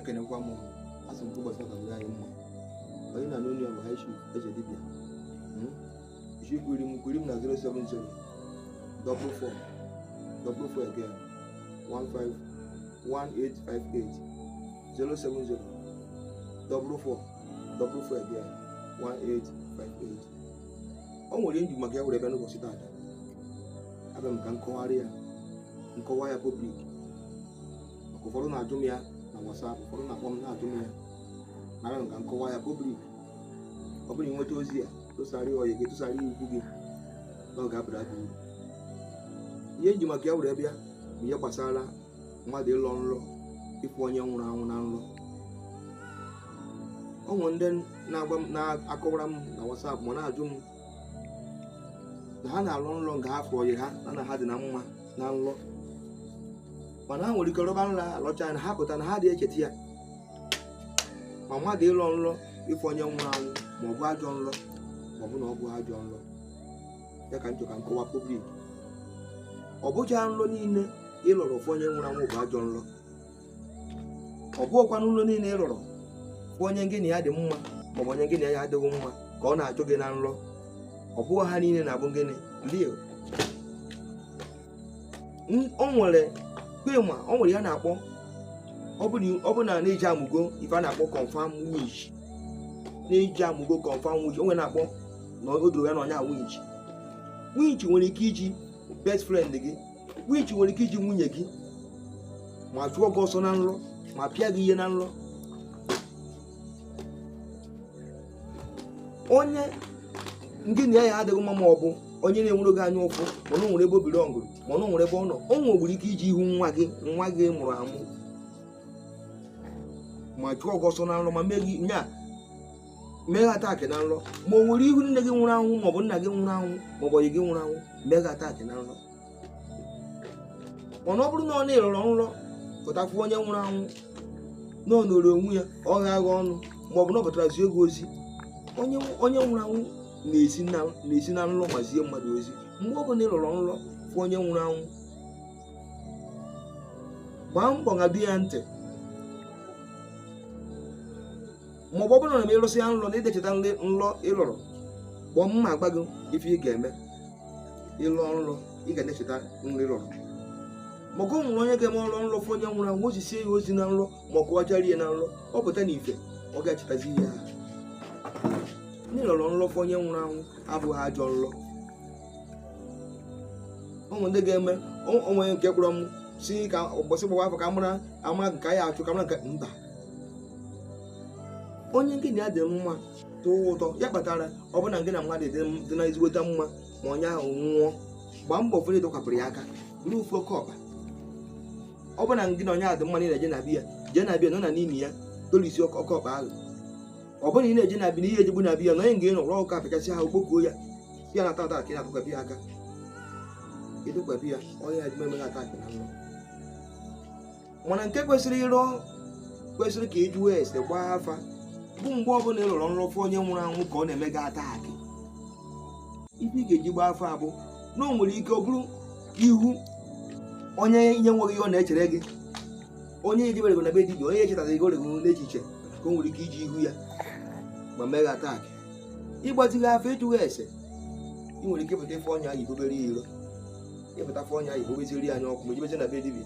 ekenekwa m asị m ụbọchị ụka dịrị anyị mma onye na n'onye ọ bụ high chief eze dibịa ishi kwiri m kwiri m na 070 double four double four again 15 1858 070 double four double four again 1858 o nwere m ji maka ya were bịa n'ụbọchị taata abịa m ka m kọwarị ya m kọwaa ya public maka ụfọdụ na-ajụ m ya na WhatsApp ụfọdụ na-akpọ m na-ajụ m ya abịa m ka m kọwaa ya public ọ bụrụ i nweta ozi a tụsara ọyị gị tụsara ikwu gị na ọ ga-abara gị uru ihe m ji maka ya were bịa bụ ihe gbasara mmadụ ịlọ nlọ ịfụ onye nwụrụ anwụ na nlọ o nwere ndị na-agwa m na-akọwara m na WhatsApp ma na-ajụ m na ha na-alọ nlọ nke ha fụ ọyị ha na ha dị na mma na nlọ mana ha nwere ike rọba nlọ alọcha na ha pụta na ha adị echeta ya ma mmadụ ịlọ nlọ ịfụ onye nwụrụ anwụ ma ọ bụ ajọ nlọ ma ọ bụ na ọ bụghị ajọ nlọ ya ka m chọrọ ka m kọwaa public ọ bụcha nlọ niile ị lọrọ fụ onye nwụrụ anwụ bụ ajọ nlọ ọ bụghịkwa nlọ niile ị rọrọ fụ onye gị na ya dị mma maọbụ onye gị na ya adịghị mma ka ọ na-achụ gị na nrọ ọ bụghị ha niile na-abụ gịnị real o nwere kpema o nwere ihe a na-akpọ ọ bụ na na-eji amụgo ife a na-akpọ confirm witch na-eji amụgo confirm witch o nwere na-akpọ ordinary witch witch nwere ike iji best friend gị witch nwere ike iji nwunye gị ma chụọ gị ọsọ na nrọ ma pịa gị ihe na nrọ onye gị na ya adịghị mma ma ọ bụ onye na-enwere gị anya ụfụ mana o nwere ebe obiri ọngụrụ mana o nwere ebe ọ nọ o nwekwuru ike iji ihu nwa gị nwa gị mụrụ amụ ma chụọ gị ọsọ na nrọ ma mee gị nya mee gị attack na nrọ ma o were ihu nne gị nwụrụ anwụ maọbụ nna gị nwụrụ anwụ maọbụ ọyị gị nwụrụ anwụ mee gị attack na nrọ mana ọ bụrụ na ọ na ị rọrọ nrọ pụta fụ onye nwụrụ anwụ na ọ nọrọ onwe ya ọ gha agha ọnụ maọbụ na ọ pụtara zie gị ozi onye onye nwụrụ anwụ na-esi na na-esi na nrọ ma zie mmadụ ozi mgbe ọ bụla ị rọrọ nrọ fụ onye nwụrụ anwụ gbaa mbọ ṅado ya ntị ma ọ bụ ọ bụrụ na ị rọsịa nlọ na ị dị echeta nlọ ị lọrọ kpọọ m ma agwa gị ife ị ga-eme ị lọ nlọ ị ga na-echeta nlọ ị lọrọ maka o nwere onye ga-eme ọ rọ nlọ fụ onye nwụrụ anwụ o zisie ya ozi na nlọ ma ọ kọwachara ya na nlọ ọ pụta na ife ọ ga-echetazi ihe ahụ na ị lọrọ nlọ fụ onye nwụrụ anwụ abụghị ajọ nlọ ụmụ ndị ga-eme o nwee nke kpọrọ m si ka ụbọchị gbawa afa ka mara ama nke anyị achụ ka mara nke mba onye gị na ya dị mma tọọ ụtọ ya kpatara ọ bụrụ na gị na mmadụ dị m- dị na ezigbote mma ma onye ahụ nwụọ gbaa mbọ fere ịdọkwapụrụ ya aka buru ofu oke ọkpa ọ bụrụ na gị na onye ahụ dị mma na ị na-eje na be ya jee na be ya nọ na n'ime ya dolisi oke oke ọkpa ahụ ọ bụrụ na ị na-eje na be ya na ihe ejebu na be ya na onye nga ịnọ rụọ ụka apịchasị ahụ kpokuo ya ya na taata ka ị na-atụkwapụ ya aka ịtụkwapụ ya onye ya dị eme attack na nlọ mana nke kwesịrị ịrụ kwesịrị ka ị jụọ ese gbaa afa bụ mgbe ọbụla ị lọrọ nrọ fụ onye nwụrụ anwụ ka ọ na-eme gị attack ife ị ga-eji gbaa afa abụ na o nwere ike ọ bụrụ ihu onye enweghị ihe ọ na-echere gị onye ejebere na be dibịa onye echetaghị gị oregoro n'echiche ka o nwere ike iji ihu ya ma mee gị attack ị gbazighị afa ị jụghị ese ị nwere ike ịpụta ị fụ onye ahụ i bubere ya iro ị pụta ị fụ onye ahụ i bubeziere ya anya ọkụ ma ejebezi na be dibịa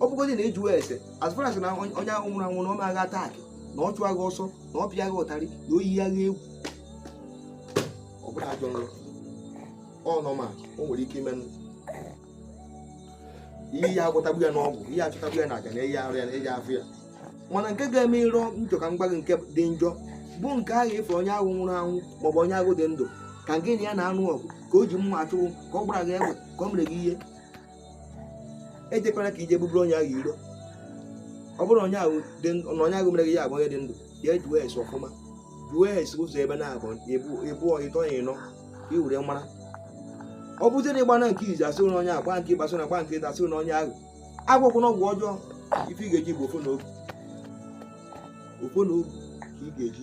ọ bụgodị na ị jụwa ese as far as na onye onye ahụ nwụrụ anwụ na o meghị attack na ọ chụghị ọsọ na ọ pịaghị ụtarị na o yighị egwu ọ bụrọ ajọ nrọ ọ nọ ma o nwere ike ime ihe a gwọtagbu ya n'ọgwụ ihe a chụtagbu ya na aja na-eyi arụ ya na eji afụ ya mana nke ga-eme ị rọ nrọ ka m gwa gị nke dị njọ bụ nke ahụ ị fụ onye ahụ nwụrụ anwụ maọbụ onye ahụ dị ndụ ka gị na ya na-anụ ọgụ ka o ji mma achụ gị ka ọ gbara gị egbe ka ọ mere gị ihe ejekwana ka i je buburu onye ahụ iro ọ bụrụ onye ahụ dị ndụ na onye ahụ mere gị ya abụ onye dị ndụ ya jụọ ese ọfụma jụọ ese ụzọ ebe naabụ ebe ịtọ ebe ịnọ ka ị were mara ọ bụzie na ị gbaa nke izizi a sị na onye ahụ gbaa nke ịbụa a sị na gbaa nke ịtọ a sị na onye ahụ agwọkwana ọgwụ ọjọọ ife ị ga-eji bụ ọfọ na ogu ọfọ na ogu ka ị ga-eji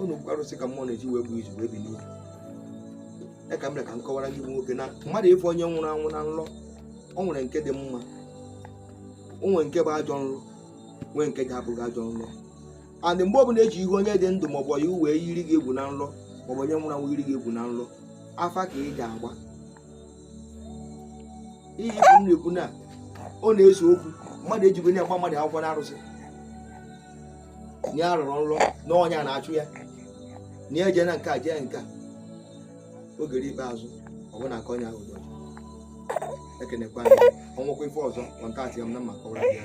unu bụkwa arụsị ka mmụọ na-eji wee gbuo izu wee bi n'ubi ya ka m ka m kọwara gị bụ nwoke na mmadụ ịfụ onye nwụrụ anwụ na nlọ o nwere nke dị mma o nwere nke bụ ajọ nlọ nwee nke ga-abụghị ajọ nlọ and mgbe ọbụla e ji ihu onye dị ndụ maọbụ ihu wee yiri gị egwu na nlọ maọbụ onye nwụrụ anwụ yiri gị egwu na nlọ afa ka ị ga-agba ihe ị fụ m na-ekwu na ọ na-ese okwu mmadụ ejigo ya agba mmadụ akwụkwọ na arụsị na ya rọrọ nrọ na onye a na-achụ ya na ya jee na nke a jee nke a oge ruo ikpeazụ ọ bụ na aka onye ahụ dị ọcha ekenekwa ya o nwekwa ife ọzọ contactịa m na m ma kọwara gị ya